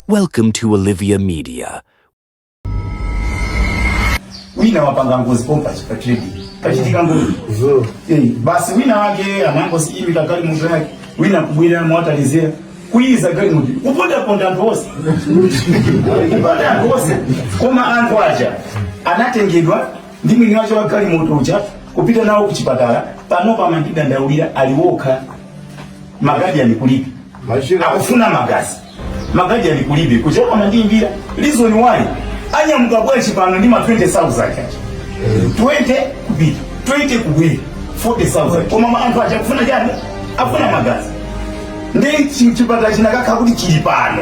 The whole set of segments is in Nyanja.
Welcome to Olivia Media. wina wapanga ngozi pompa chipatidi pachitika ngozi Eh, basi wina wake anangosiyimika galimoto yake wina kubwera mwatalizira kuyiza galimoto kupondaponda anthu onse kuponda anthu onse koma anthu aja anatengedwa ndi mwini wache wa galimoto uja kupita nawo ku chipatala panopa amandidandaulira ali wokha magazi ali kulibe Machira. akufuna magazi magazi ali kulibe kuchera amandiimbira reason why anyamuka bwanji pano ndi ma 20000 aja 20 kupita 20 kubwera 40000 koma ma- anthu aja akufuna chani akufuna magazi ndi chi- chipatala chinakakha kuti chili pano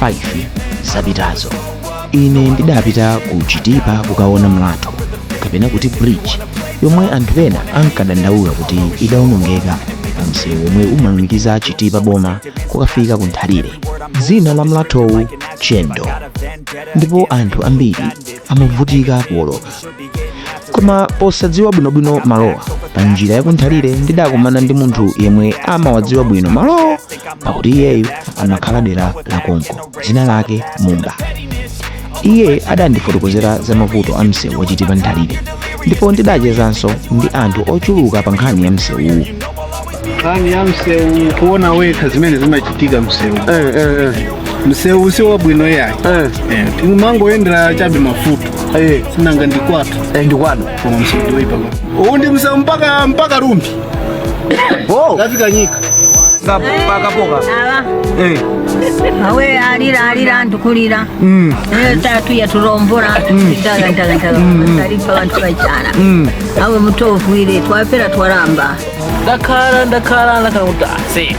5 zapitazo ine ndidapita ku chitipa kukaona mlatho kapena kuti bridge yomwe anthu ena ankadandaula kuti idaonongeka pa msewu womwe umalumikiza chitipa boma kukafika ku nthalire dzina la mlathowu chendo ndipo anthu ambiri amavutika kuwoloka koma posadziwa bwinobwino malowa pa njira yakunthalire ndidakumana ndi munthu yemwe amawadziwa bwino malowo pakuti iyeyu amakhala dera la konko dzina lake mumba iye adandifotokozera za mavuto a msewu wa chitipa nthalire ndipo ndidachezanso ndi anthu ochuluka pa nkhani ya msewuwu nkhani ya msewu kuona wekha zimene zimachitika msewu eh, eh, eh. msewu si wabwino yayi eh. eh. timangoyendera chabe mafuta eh. sinanga ndi kwatu eh, ndi kwatu koma msewu ndiwoipa uwu ndi msewu mpaka mpaka rumphi oh. kafika nyika pakapoka eh. awe alira alira ndikulira mm. eh, tatu yatulombora mm. taga taga taga mm, talipa bantu bachana awe mutovu ile twapera twaramba ndakhala ndakhala ndakhala kuti ase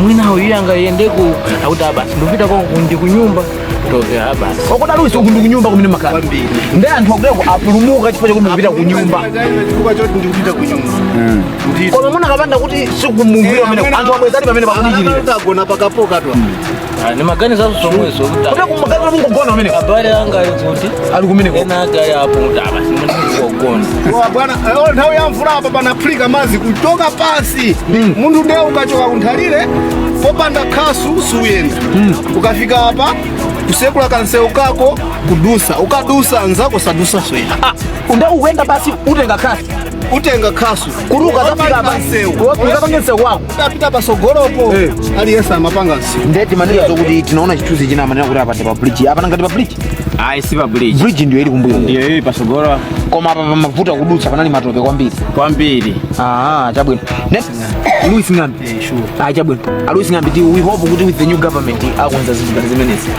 mwina uyu angayendeko akuti abasi ndikupita ko ndi kunyumba toke abasi wakudala usi uku ndikunyumba kumene makhala ndi anthu akudako apulumuka chifukwa chakuti ndikupita kunyumba chifukwa choti ndikupita kunyumba koma munakapanda kuti sikumumvira pamene anthu abwezani pamene pakudikirira agona pakapoka twa Ah, ni maganizo zomwezo kuti kuti kumaganiza mungogona amene abale anga ali kuti ali kumeneko ena ake ali apo kuti abasi mundikugona Wa bwana eh, oh, nthawi ya mvula apa panaphulika madzi kuchoka pansi munthu ndiye ukachoka kunthalire popanda khasu suyenda ukafika apa kusekula kansewu kako kudusa ukadusa anzako sadusa suyenda unde ukuyenda basi utenga khasu utenga khasu kuti ukazafika apa kansewu ukapange msewu wako tapita pasogolopo Eh. aliyense amapanga msewu ndeti manena zokuti tinaona chithunzi china manena kuti apa ndi pa bridge apa ngati pa bridge ayi si pa bridge bridge ndiyo ili kumbuyo ndiyo ili pasogolo koma apa pamavuta kudutsa panali matope kwambiri kwambiri ah chabwino next louis ng'ambi ah chabwino a louis ng'ambi ti we hope kuti with the new government akonza zinthu ngati zimenezi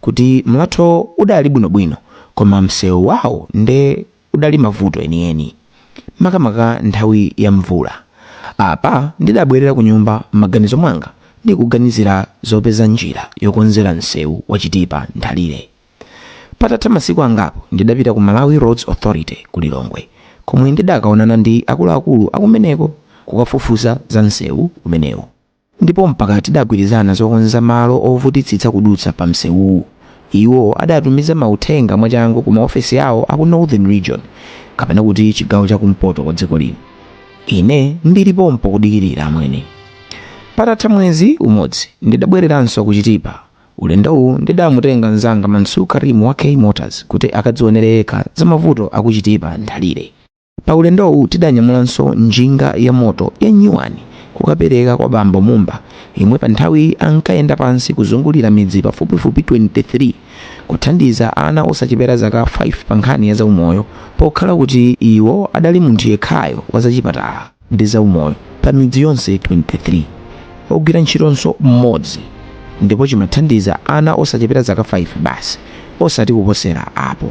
kuti mlathowo udali bwinobwino koma msewu wawo nde udali mavuto enieni makamaka nthawi ya mvula. Apa ndidabwerera kunyumba m'maganizo mwanga ndikuganizira zopeza njira yokonzera msewu wa Chitipa Nthalire. Patatha masiku angapo ndidapita ku Malawi Roads Authority ku Lilongwe komwe ndidakaonana ndi akuluakulu akumeneko kukafufuza za msewu umenewu. Ndipo mpaka tidagwirizana zokonza malo ovutitsitsa kudutsa pa msewuwu. Iwo adatumiza mauthenga mwachangu ku maofesi awo aku Northern Region, kapena kuti chigawo cha kumpoto kwa dziko lino. Ine ndili pompo kudikirira, amwene. Patatha mwezi umodzi ndidabwereranso ku Chitipa. Ulendowu ndidamutenga mnzanga Mansur Karim wa K Motors kuti akadzionere yekha za mavuto a ku Chitipa Nthalire. Pa ulendowu tidanyamulanso njinga yamoto ya nyuwani kukapereka kwa bambo Mumba yemwe pa nthawiyi ankayenda pansi kuzungulira midzi pafupifupi 23 kuthandiza ana osachepera zaka 5 pa nkhani ya zaumoyo pokhala kuti iwo adali munthu yekhayo wa zachipatala ndi zaumoyo pa midzi yonse 23, ogwira ntchitonso mmodzi ndipo chimathandiza ana osachepera zaka 5 basi osati kuposera apo.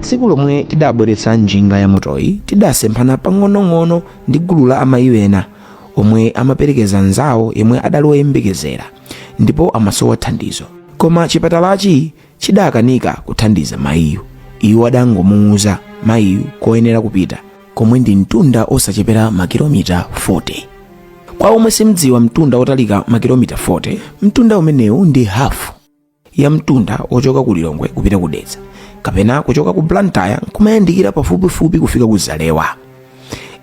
tsiku lomwe tidabweretsa njinga ya motoyi tidasemphana pang'onong'ono ndi gulu la amayi ena omwe amaperekeza nzawo yemwe adali woyembekezera ndipo amasowa thandizo koma chipatalachi chidakanika kuthandiza mayiyu. Iwo adangomuuza mayiyu koyenera kupita komwe ndi mtunda osachepera makilomita 40. Kwa omwe simdziwa mtunda otalika makilomita 40, mtunda umenewu ndi hafu ya mtunda ochoka ku Lilongwe kupita ku Dedza kapena kuchoka ku Blantyre nkumayandikira pafupifupi kufika ku Zalewa.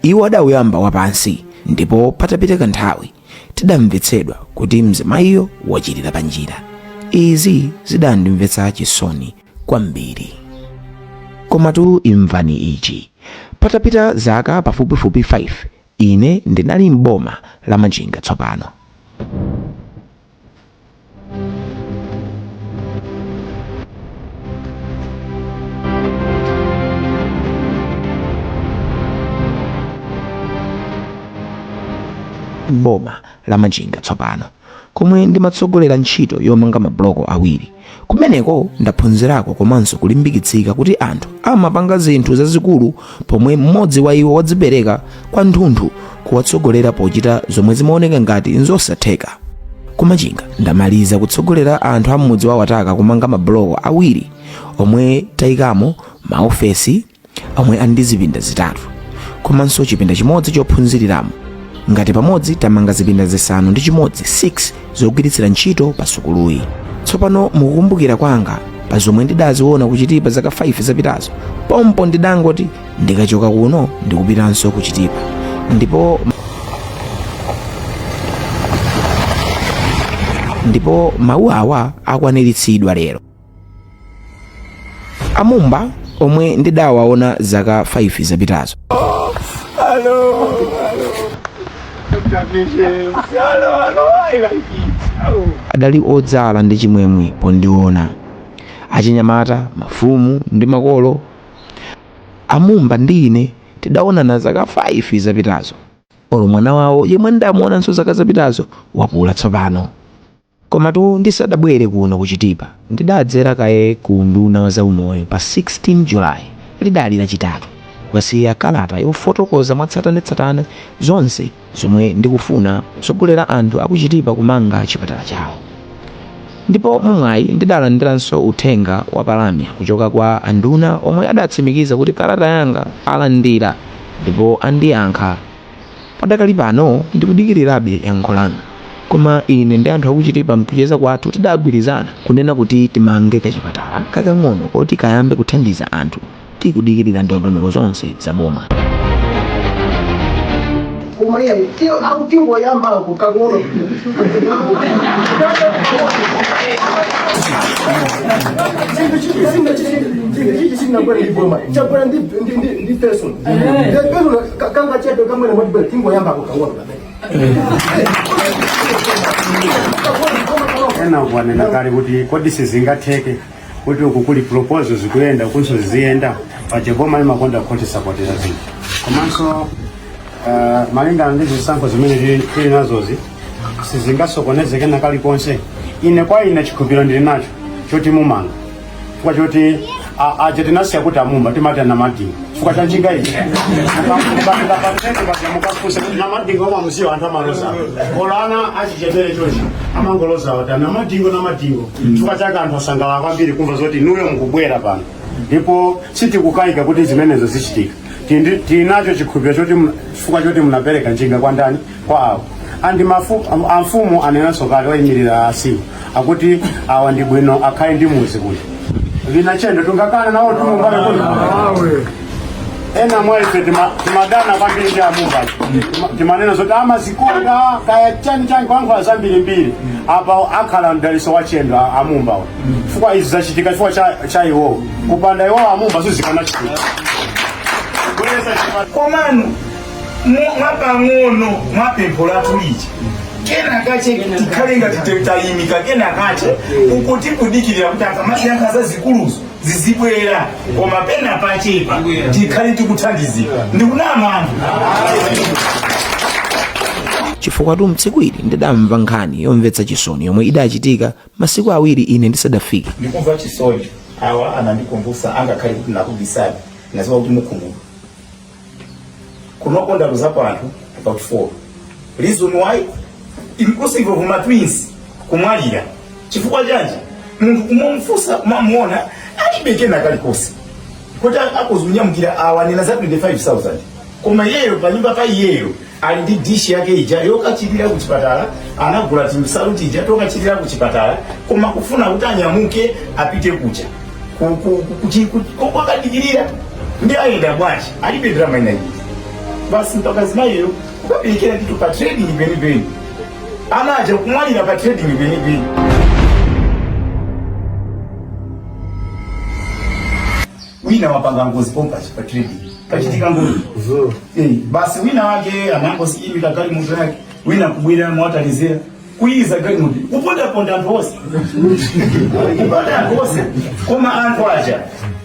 Iwo adauyamba wapansi ndipo patapita kanthawi tidamvetsedwa kuti mzimayiyo wachilira pa njira izi zidandimvetsa chisoni kwambiri komatu imvani ichi patapita zaka pafupifupi 5 ine ndinali m'boma la machinga tsopano m'boma la Machinga tsopano komwe ndimatsogolera ntchito yomanga mabuloko awiri. kumeneko ndaphunzirako komanso kulimbikitsika kuti anthu amapanga zinthu zazikulu pomwe mmodzi wa iwo wadzipereka kwanthunthu kuwatsogolera pochita zomwe zimaoneka ngati nzosatheka ku Machinga ndamaliza kutsogolera anthu a mmudzi wa Wataka kumanga mabuloko awiri omwe tayikamo maofesi omwe ali ndi zipinda zitatu komanso chipinda chimodzi chophunziriramo ngati pamodzi tamanga zipinda zisanu ndi chimodzi 6 zogwiritsira ntchito pa sukuluyi tsopano mukukumbukira kwanga pa zomwe ndidaziona ku Chitipa zaka 5 zapitazo pompo ndidangoti ndikachoka kuno ndikupitanso ku Chitipa ndipo mawu awa akwaniritsidwa lero a Mumba omwe ndidawaona zaka 5 zapitazo adali odzala ndi chimwemwe pondiona achinyamata mafumu ndi makolo a Mumba ndi ine tidaonana zaka 5 zapitazo olo mwana wawo yemwe ndidamuonanso zaka zapitazo wakula tsopano Komatu ndisadabwere kuno ku Chitipa ndidadzera kaye ku unduna wa zaumoyo pa 16 July lidali Lachitatu kukasiya kalata yofotokoza mwatsatanetsatane zonse zomwe ndikufuna kutsogolera anthu a ku Chitipa kumanga chipatala chawo ndipo mwamwayi ndidalandiranso uthenga wa palamya kuchoka kwa anduna omwe adatsimikiza kuti kalata yanga alandira ndipo andiyankha Padakali pano ndikudikirirabe yankho lanu. Koma ine ndi anthu aku Chitipa mkucheza kwathu tidagwirizana kunena kuti timange kachipatala kakang'ono koti kayambe kuthandiza anthu tikudikirira ndondomeko zonse za boma. kanga ena akuanena kale kuti kodi sizingatheke kuti uku kuli proposal zikuyenda ukunso ziziyenda paja boma limakonda kutisapotera zinthu komanso ah, malingana ndi zisankho zimene tili- tili nazozi sizingasokonezeke na kalikonse ine kwa ine chikhupiro ndili nacho choti mumanga chifukwa choti a- aja tinasiya kuti amumba timati namadingo chifukwa cha njinga iyi mukafunsa kuti namadingo omwe amusiwa anthu amaloza olo ana achichepere chochi amangoloza kuti namadingo namadingo chifukwa chake anthu asangalala kwambiri kumva zoti inuyo mukubwera pano ndipo sitikukayika kuti zimenezo zichitika Tindi- tinacho chikhulupiriro choti mna- chifukwa choti munapereka njinga kwa ndani kwawo and mafu, am- amfumu anenanso kale oyimirira asiwo akuti awa ndi bwino akhale ndi muzi kuno wina chendo tingakhale nawo ndi m'bale kuno ena mwa ife tima- timadana kwambiri ndi amumba Tima- timanena zoti amazikonda kaya chani chani kwankhula zambirimbiri apa akhala mdaliso wa chendo a- amumba awa chifukwa izi zachitika chifukwa cha- cha iwowo kupanda iwowo amumba sizikanachitika komano Mu- mwapang'ono mwa pempho lathu lija kena kache tikhale ngati te- tayimika kena kache kuti kudikirira kuti akamayankha zazikuluzo zizibwera koma pena pachepa tikhale tikuthandizika ndikunama anthu chifukwatu tsiku ili ndidamva nkhani yomvetsa chisoni yomwe idachitika masiku awiri ine ndisadafike ndikumva chisoni awa anandikumbutsa angakhale kuti nakubisani nadziwa kuti mukhumudwa kuno kundaluzapo anthu about four reason why inclusive of ma twins kumwalira chifukwa chanji munthu kumufunsa kumamuona alibe kena kalikonse kuti akuzanyamukira awa anena za 25000 koma iyeyo panyumba pa iyeyo ali ndi dishi yake ija yokachilira ku chipatala anagula tinsalu tija tokachilira ku chipatala koma kufuna kuti anyamuke apite kuja ku- ku- ku- kuti- kuti- komwe akadikirira nde ayenda bwanji alibe ndalama ina iyi basi mpaka mzimayiyo kukaberekera ndithu pa trading penipeni ana aja kumwalira pa trading penipeni wina wapanga ngozi pompa pa trading pachitika ngozi Zo. eh, basi wina wake anangoziimika galimoto yake wina kubwera mothalizira kuyiza galimoto kupondaponda anthu onse kuponda anthu onse koma anthu aja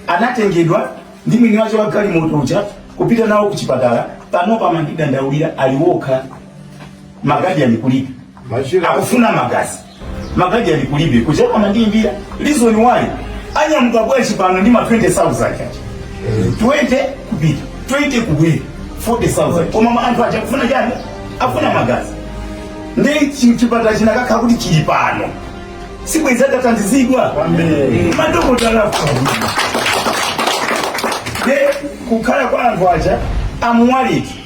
anatengedwa ndi mwini wake wa galimoto uja kupita nawo ku chipatala panopa amandidandaulira ali wokha magazi ali kulibe Machira. akufuna magazi magazi ali kulibe kuja akumandiyimbira reason why anyamuka bwanji pano ndi ma 20000 aja 20 kupita 20 kubwera 40000 koma ma- anthu aja akufuna chani akufuna magazi ndi chi- chipatala chinakakhala kuti chili pano sibwezi atathandizidwa madokotala kukhala kwa anthu aja amuwaliki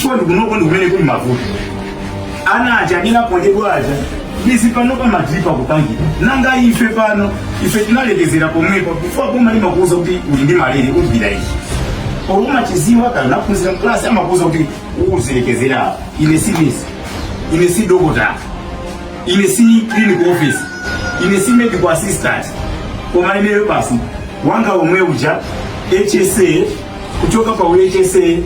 chikondi kunoko ndikumene kuli mavuto ana aja amene aponjedwa aja izi pano pamadziwa kupangidwa nanga ife pano ife tinalekezera pomwepo before boma limakuuza kuti uli ndi malire uzipita ichi poluma chidziwa kale unaphunzira mklasi amakuuza kuti uzilekezera apa ine si nesi ine si dokota ine si clinical officer ine si medical assistant koma ineyo basi wanga omwe uja hsa kuchoka pa UHSA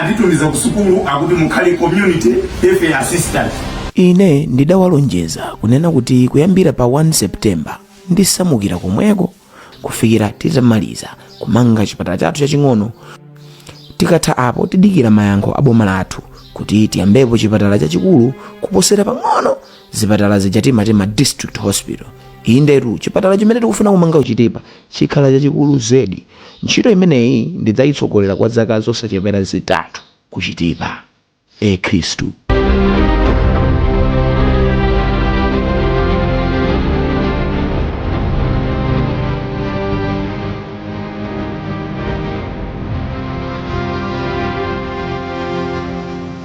anditumiza ku sukulu akuti mukhale community health assistant ine ndidawalonjeza kunena kuti kuyambira pa 1 septemba ndisamukira komweko kufikira titamaliza kumanga chipatala chathu chaching'ono tikatha apo tidikira mayankho a boma lathu kuti tiyambepo chipatala chachikulu kuposera pang'ono zipatala zija timati ma district hospital indetu chipatala chimene tikufuna kumanga ku Chitipa chikhala chachikulu zedi Ntchito imeneyi ndidzaitsogolera kwa zaka zosachepera zitatu ku Chitipa. E. Khristu.